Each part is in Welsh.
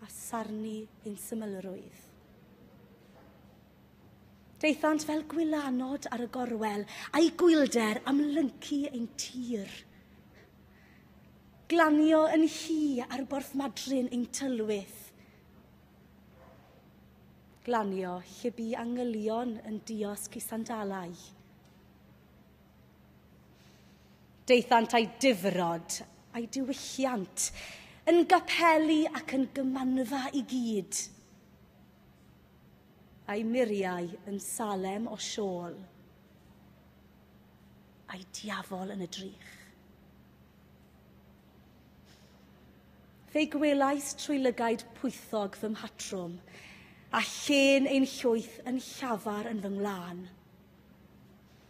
a sarnu ein symlrwydd. Daethant fel gwylanod ar y gorwel, a'i gwylder am lyncu ein tir. Glanio yn hi ar borthmadryn ein tylwyth. Glanio lle bu angylion yn diosg i sandalau. Daethant a'i difrod, a'i diwylliant, yn gapeli ac yn gymanfa i gyd. A'i muriau yn Salem o siôl, a'i diafol yn y drych. Fe gwelais trwy lygaid pwythog fy mhatrwm, a llên ein llwyth yn llafar yn fy ngwlân.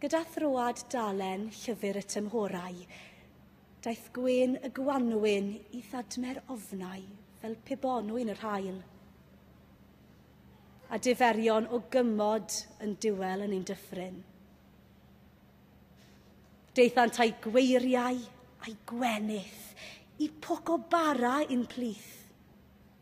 Gyda throad dalen llyfr y tymhorau, daeth gwên y gwanwyn i ddadmer ofnau fel pe bonwyn yr haul. A diferion o gymod yn diwel yn ein dyffryn. Deithant a'i gweiriau a'i gwenith i poc o bara i'n plith.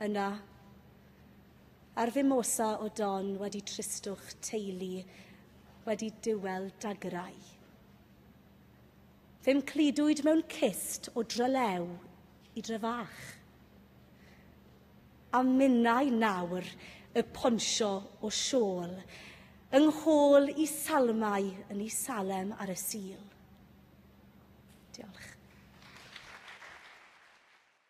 Yna, ar fimosa o don wedi tristwch teulu, wedi diwel dagrau. Fe'm cludwyd mewn cist o drylew i dre fach. A minnau nawr y ponsio o siôl, yng nghôl i salmau yn i Salem ar y Sul. Diolch.